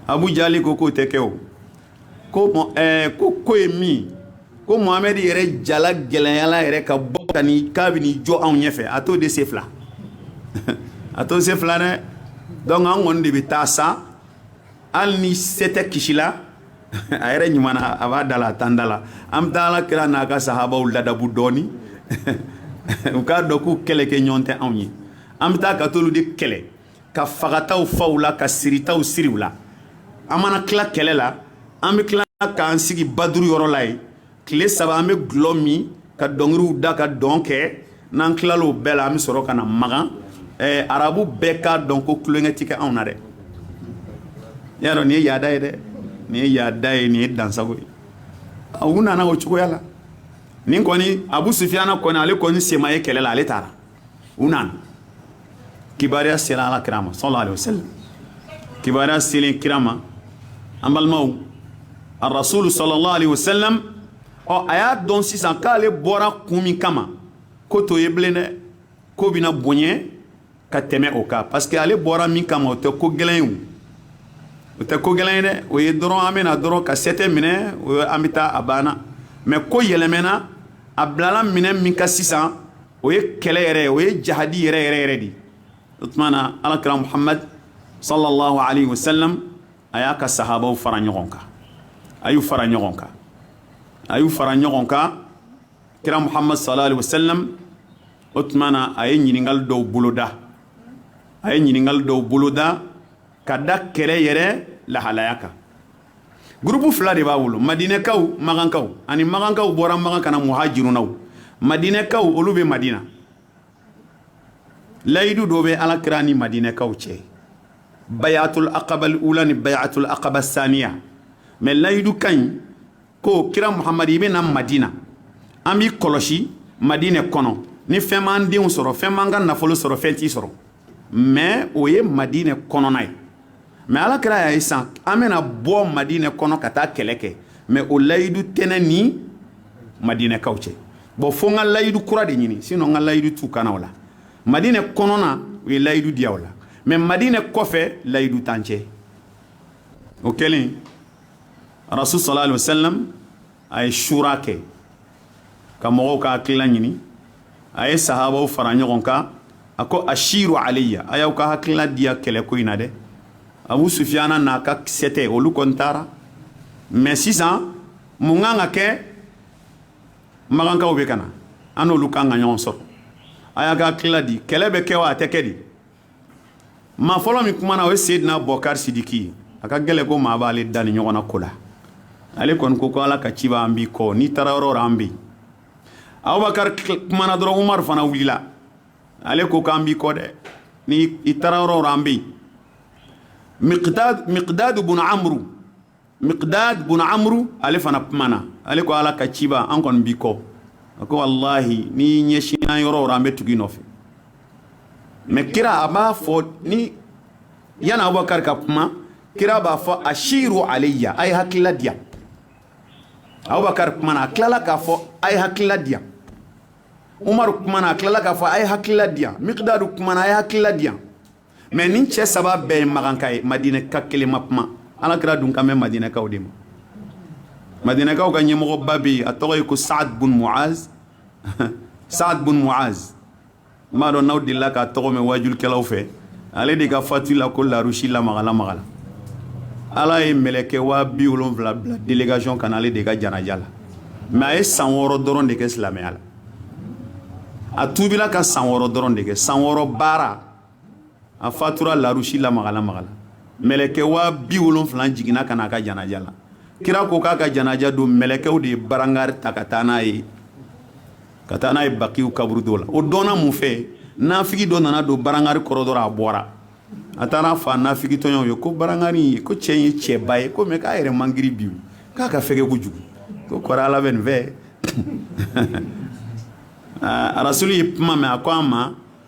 abujali ko k'o tɛ kɛ o ko ko ko ye min ko muhamɛdi yɛrɛ jala gɛlɛyala yɛrɛ ka bɔ ka ni k'a bɛ ni jɔ anw ɲɛfɛ a t'o de se fila a t'o se fila dɛ donc an kɔni de bɛ taa sa hali ni sɛtɛ kisila a yɛrɛ ɲuman na a b'a da la a t'an da la an bɛ taa ala kira n'a ka sahabaw ladabu dɔɔni u k'a dɔn k'u kɛlɛkɛɲɔgɔn tɛ anw ye an bɛ taa ka t'olu de kɛlɛ ka fagataw fa u la ka siritaw siri u la an mana tila kɛlɛ la an bɛ tila k'an sigi baduru yɔrɔ la yen tile saba an bɛ gulɔ min ka dɔnkiliw da ka dɔn kɛ n'an tilala o bɛɛ la an bɛ sɔrɔ ka na magan ɛɛ arabu bɛɛ k'a dɔn ko tulonkɛ ti kɛ anw na dɛ i y'a dɔn nin ye yaada ye dɛ nin ye yaada ye nin ye dansago ye u nana o cogoya la nin kɔni abu sufiyana kɔni ale kɔni sen ma ye kɛlɛ la ale taara u nana kibaruya sera ala kira ma sallallahu alaihi wasallam kibaruya selen kira ma an balimaw a rasulu sallallahu alaihi wasallam ɔ a y'a dɔn sisan k'ale bɔra kun min kama ko t'o ye bilen dɛ ko bɛna bonya ka tɛmɛ o kan parce que ale bɔra min kama o tɛ ko gɛlɛn ye o o tɛ ko gɛlɛn ye dɛ o ye dɔrɔn an bɛna dɔrɔn ka sɛtɛ minɛ o ye an bɛ taa a banna mais ko yɛlɛmɛna a bilala minɛ min kan sisan o ye kɛlɛ yɛrɛ o ye jahadi yɛrɛ yɛrɛ yɛrɛ de o tuma na ala kira muhamad sallallahu alaihi wa sallam a y'a ka sahabaw fara ɲɔgɔn kan a y'u fara ɲɔgɔn kan a y'u fara ɲɔgɔn kan kira muhamad sallallahu alaihi wa sallam o tuma na a ye ɲininkali dɔw boloda a ye ɲininkali dɔw boloda ka da kɛlɛ yɛrɛ lahalaya kan groupe fila de b'a bolo madinɛkaw makankaw ani makankaw bɔra makan ka na muhajirunaw madinɛkaw olu bɛ madina layidu dɔ bɛ ala kira ni madinɛkaw cɛ bayatul akabal ula ni bayatul akaba saniya mais layidukan ye ko kira muhamadu i bɛ na madina an b'i kɔlɔsi madinɛ kɔnɔ ni fɛn m'an denw sɔrɔ fɛn m'an ka nafolo sɔrɔ fɛn t'i sɔrɔ mais o ye madinɛ kɔnɔna ye mais ala kira y'a ye san an bɛna bɔ madinɛ kɔnɔ ka taa kɛlɛ kɛ mais o layidu tɛ ne ni madinɛkaw cɛ bon fo n ka layidu kura de ɲini sinon n ka layidu t'u kan na o la madinɛ kɔnɔna u ye layidu di yan o la mais madinɛ kɔfɛ layidu t'an cɛ o kɛlen rasul sallallahu alaihi wasallam a ye shura kɛ ka mɔgɔw ka hakilila ɲini a ye sahabaw fara ɲɔgɔn kan a ko ashiru alayya a y'aw ka hakilila di yan kɛlɛ ko in na dɛ abu sufiyana n'a ka sɛtɛ olu kɔni taara mais sisan mun kan ka kɛ magankaw bɛ ka na an n'olu kan ka ɲɔgɔn sɔrɔ a y'a ka hakilila di kɛlɛ bɛ kɛ wa a tɛ kɛ di maa fɔlɔ min kumana o ye Seydina Bɔkari Sidiki ye a ka gɛlɛ ko maa b'ale dan nin ɲɔgɔnna ko la ale kɔni ko ko Ala ka ciba an b'i kɔ n'i taara yɔrɔ o yɔrɔ an bɛ yen Abubakari kumana dɔrɔn Umaru fana wulila ale ko k'an b'i kɔ dɛ ni i taara yɔrɔ o yɔrɔ an bɛ yen Mikidadi Mikidadi bun Amuru miqdad bun amru ale fana kumana ale ko ala ka ciba an kɔni b'i kɔ a ko wallahi n'i ɲɛsinna yɔrɔ o yɔrɔ an bɛ tugu i nɔfɛ mais kira a b'a fɔ ni yani abubakar ka kuma kira b'a fɔ ashiru alayya a ye hakilila di yan abubakar kumana a tilala k'a fɔ a ye hakilila di yan umaru kumana a tilala k'a fɔ a ye hakilila di yan miqdadu kumana a ye hakilila di yan mais nin cɛ saba bɛɛ ye makanka ye madinɛka kelen ma kuma ala kira dun kan bɛ madinɛkaw de ma madinɛkaw ka ɲɛmɔgɔba bɛ yen a tɔgɔ ye ko saad bun muaz saad bun muaz n m'a dɔn n'aw delila k'a tɔgɔ mɛn waajulikɛlaw fɛ ale de ka fatu la ko larusi lamagalamagala ala ye mɛlɛkɛ waa bi wolonwula bila délégation ka na ale de ka janaja la mais a ye san wɔɔrɔ dɔrɔn de kɛ silamɛya la a tuubila ka san wɔɔrɔ dɔrɔn de kɛ san wɔɔrɔ baara a fatura larusi lamagalamagala mɛlɛkɛ waa bi wolonwula jiginna ka n'a ka janaja la kira ko k'a ka janaja don mɛlɛkɛw de ye barangari ta ka taa n'a ye ka taa n'a ye bakiw kaburudo la o dɔnna mun fɛ nafigi dɔ nana don barangari kɔrɔ dɔrɔn a bɔra a taara a fɔ nafigi tɔɲɔgɔnw ye ko barangari ye ko cɛ ye cɛba ye ko mais k'a yɛrɛ man girin bi k'a ka fɛgɛ kojugu ko kɔrɔ ala bɛ nin fɛ arasuli ye kuma mɛn a ko an ma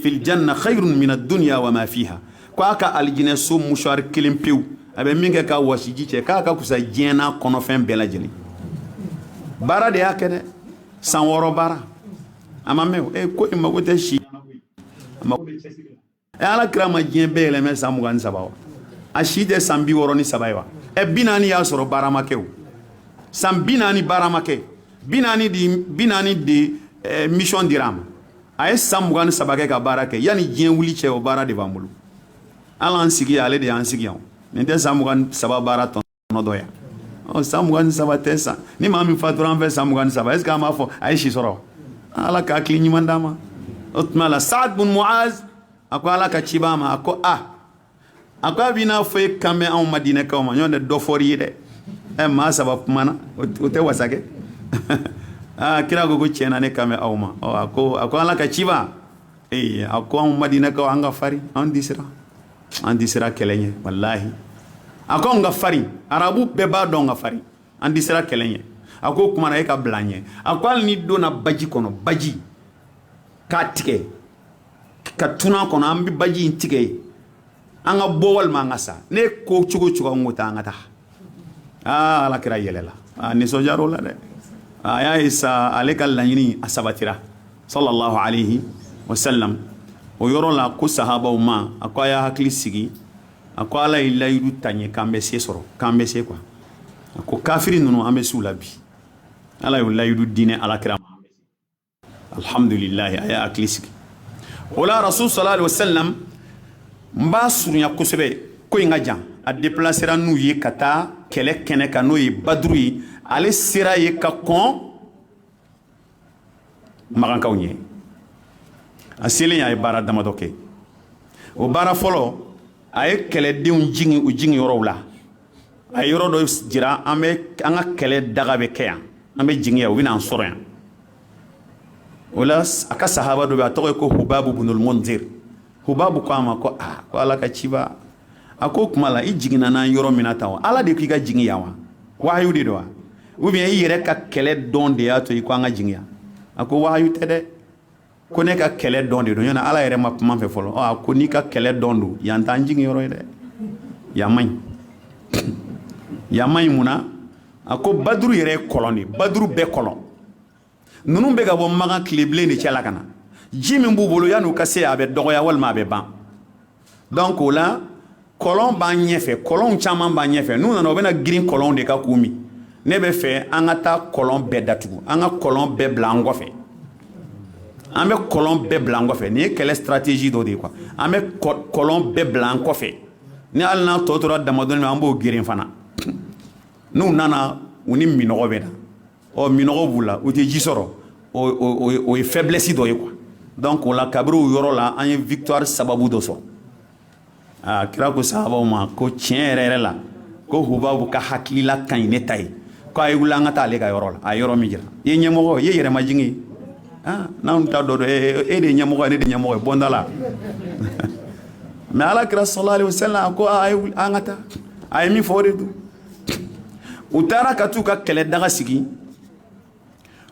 fil janna khayrun min ad-dunya wa ma fiha ko a ka alijinɛ so musuwari kelen pewu a bɛ min kɛ ka wasiji cɛ k'a ka kusa diɲɛ n'a kɔnɔfɛn bɛɛ lajɛlen baara de y'a kɛ dɛ san wɔɔrɔ baara a ma mɛɛn e ko i mago tɛ si la mago bɛ cɛsiri la ɛ ala kira ma diɲɛ bɛɛ yɛlɛmɛ san mugan ni saba wa a si tɛ san bi wɔɔrɔ ni saba ye wa ɛ bi naani y'a sɔrɔ baara ma kɛ o san bi naani baara ma kɛ bi naani de bi naani de ɛ mission dira a ma a ye san mugan ni saba kɛ ka baara kɛ yanni diɲɛ wuli cɛ o baara de b'an bolo hali an sigi ale de y'an sigi yan nin tɛ san mugan ni saba baara tɔnɔ dɔ yan ɔ san mugan ni saba tɛ sa ni maa min fatura an fɛ san mugan ni saba est ce que an b'a fɔ a ye si sɔrɔ ala ka hakili ɲuman d'an ma o tuma la saad bun muaz a ko ala ka cibaa ma a ko a a ko a bɛ n'a fɔ e kan bɛ anw madinɛkaw ma nɔntɛ dɔ fɔri ye dɛ ɛ maa saba kumana o tɛ wasa kɛ aa kira ko ko tiɲɛ na ne kan bɛ aw ma ɔ a ko a ko ala ka ciba ee a ko anw madinɛkaw an ka farin an tɛ siran an tɛ siran kɛlɛ ɲɛ walahi a ko anw ka farin arabu bɛɛ b'a dɔn an ka farin an tɛ siran kɛlɛ ɲɛ a ko o kumana e ka bila an ɲɛ a ko hali n'i donna baji kɔnɔ baji k'a tigɛ ka tunun a kɔnɔ an bɛ baji in tigɛ ye an ka bɔ walima an ka sa ne ko cogo o cogo an ko taa an ka taa aa ala kira yɛlɛla nisɔndiya la dɛ a y'a ye sa ale ka laɲini a sabatira sallallahu alaihi wa sallam o yɔrɔ la ko sahabaw ma a ko a y'a hakili sigi a ko ala ye layidu ta n ye k'an bɛ se sɔrɔ k'an bɛ se quoi a ko kafiri ninnu an bɛ s'u la bi ala y'o layidu di ne ala kira ma alhamdulillah a y'a hakili sigi o la rasul sallallahu alaihi wasallam n b'a surunya kosɛbɛ ko in ka jan a depilasera n'u ye ka taa kɛlɛ kɛnɛ kan n'o ye baduru ye ale sera yen ka kɔn makankaw ɲɛ a selen a ye baara damadɔ kɛ o baara fɔlɔ a ye kɛlɛdenw jigin u jigin yɔrɔw la a ye yɔrɔ dɔ jira an bɛ an ka kɛlɛ daga bɛ kɛ yan an bɛ jigin yan u bɛn'an sɔrɔ yan o la a ka sahaba dɔ bɛ a tɔgɔ ye ko hubabu bunul munzir hubabu ko a ma ko aa ko ala ka ciba a ko kuma la i jiginna n'an yɔrɔ min na tan wa ala de k'i ka jigin yan wa wahayu de don wa ou bien i yɛrɛ ka kɛlɛ dɔn de y'a to i ko an ka jigin yan a ko wahayu tɛ dɛ ko ne ka kɛlɛ dɔn de don yan ala yɛrɛ ma kuma n fɛ fɔlɔ a ko n'i ka kɛlɛ dɔn don yan t'an jigin yɔrɔ ye dɛ yan man ɲi yan man ɲi mun na a ko baduru yɛrɛ ye kɔlɔn de baduru bɛɛ kɔlɔn ninnu bɛ ka bɔ makan tilebilen de cɛ la ka na ji min b'u bolo yan'u ka se a bɛ dɔgɔya walima a bɛ ban Donc o la kɔlɔn b'an ɲɛfɛ kɔlɔn caman b'an ɲɛfɛ n'u nana u bɛna girin kɔlɔn de kan k'u min ne b'a fɛ an ka taa kɔlɔn bɛɛ datugu an ka kɔlɔn bɛɛ bila an kɔfɛ an bɛ kɔlɔn bɛɛ bila an kɔfɛ nin ye kɛlɛ stratégie dɔ de ye quoi an bɛ kɔlɔn bɛɛ bila an kɔfɛ ni hali n'a tɔ tora damadɔ an b'o geren fana n'u nana u ni minnɔgɔ bɛ na ɔ minnɔgɔ b'u la u tɛ ji sɔrɔ o ye faiblesse dɔ ye quoi donc o la kabini o yɔrɔ la an ye victoire sababu dɔ sɔrɔ aa kira ko sahabaw ma ko tiɲɛ yɛrɛ yɛrɛ la ko hubabu ka hakilila ka ɲi ne ta ye ko a ye wuli an ka taa ale ka yɔrɔ la a yɔrɔ min jira i ye ɲɛmɔgɔ i ye yɛrɛmajigin ye aa n'an ta dɔ don e de ye ɲɛmɔgɔ ye ne de ɲɛmɔgɔ ye bɔ n da la mais ala kira sallallahu alaihi wasallam ko a ye an ka taa a ye min fɔ o de don u taara ka t'u ka kɛlɛ daga sigi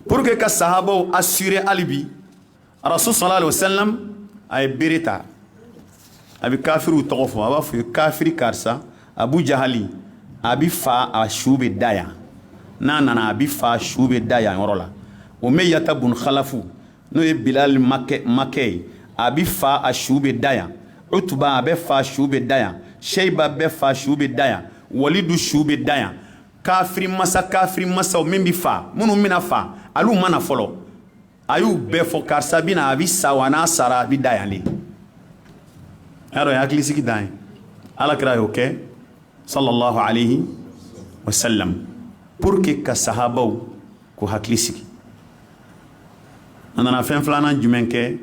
pour que ka sahabaw assurer hali bi rasul sallallahu alaihi wasallam a ye bere ta a bɛ kafiriw tɔgɔ fɔ a b'a f'u ye kafiri karisa abu jahali a bɛ fa a su bɛ da yan n'a nana a bɛ fa a su bɛ da yan yɔrɔ la umayyata bun khalafu n'o ye bilali makɛ ye a bɛ fa a su bɛ da yan utuba a bɛ fa su bɛ da yan seyiba bɛ fa su bɛ da yan walidu su bɛ da yan kafiri masa kafiri masaw min bɛ fa minnu bɛna fa olu mana fɔlɔ a y'u bɛɛ fɔ karisa bɛ na a bɛ sa wa n'a sara a bɛ da yan de o ye hakilisigi dan ye ala kira y'o kɛ sallallahu alayhi wa sallam pour que ka sahabaw k'u hakili sigi a nana fɛn filanan jumɛn kɛ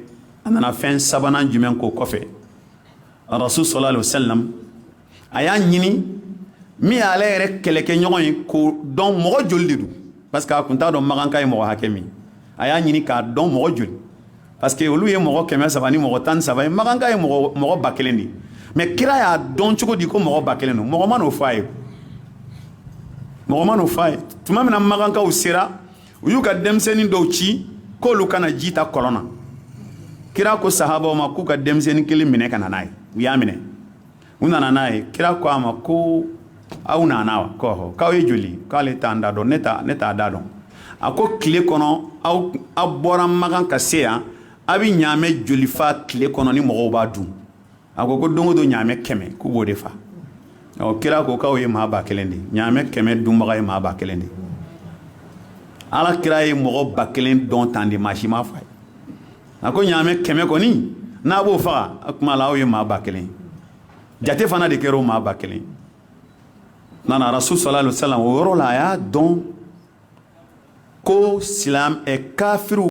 a nana fɛn sabanan jumɛn k'o kɔfɛ rasul sallallahu alayhi wa sallam a y'a ɲini min y'ale yɛrɛ kɛlɛkɛɲɔgɔn ye k'o dɔn mɔgɔ joli de don parce que a tun t'a dɔn makanka ye mɔgɔ hakɛ min a y'a ɲini k'a dɔn mɔgɔ joli parce que olu ye mɔgɔ kɛmɛ saba ni mɔgɔ tan saba ye makanka ye mɔgɔ ba kelen de ye mais kira y'a dɔn cogo di ko mɔgɔ ba kelen don mɔgɔ ma n'o fɔ a ye mɔgɔ ma n'o fɔ a ye tuma min na makankaw sera u y'u ka denmisɛnnin dɔw ci k'olu ka na ji ta kɔlɔn na kira ko sahabaw ma k'u ka denmisɛnnin kelen minɛ ka na n'a ye u y'a minɛ u nana n'a ye kira ko a ma ko aw nana wa k'ɔnhɔn k'aw ye joli k'ale t'a da dɔn ne t'a ne t'a da dɔn a ko tile kɔnɔ aw aw bɔra makan ka se yan a bɛ ɲaamɛ joli fa tile kɔnɔ ni mɔgɔw b'a dun a ko ko don o don ɲaamɛ kɛmɛ k'u b'o de fa ɔ kira ko k'aw ye maa ba kelen de ɲaamɛ kɛmɛ dunbaga ye maa ba kelen de ala kira ye mɔgɔ ba kelen dɔn tan de maa si ma f'a ye a ko ɲaamɛ kɛmɛ kɔni n'a b'o faga a kuma la aw ye maa ba kelen jate fana de kɛra o maa ba kelen nana rasul sallallahu alayhi wa sallam o yɔrɔ la a y'a dɔn ko silam ɛ kafiriw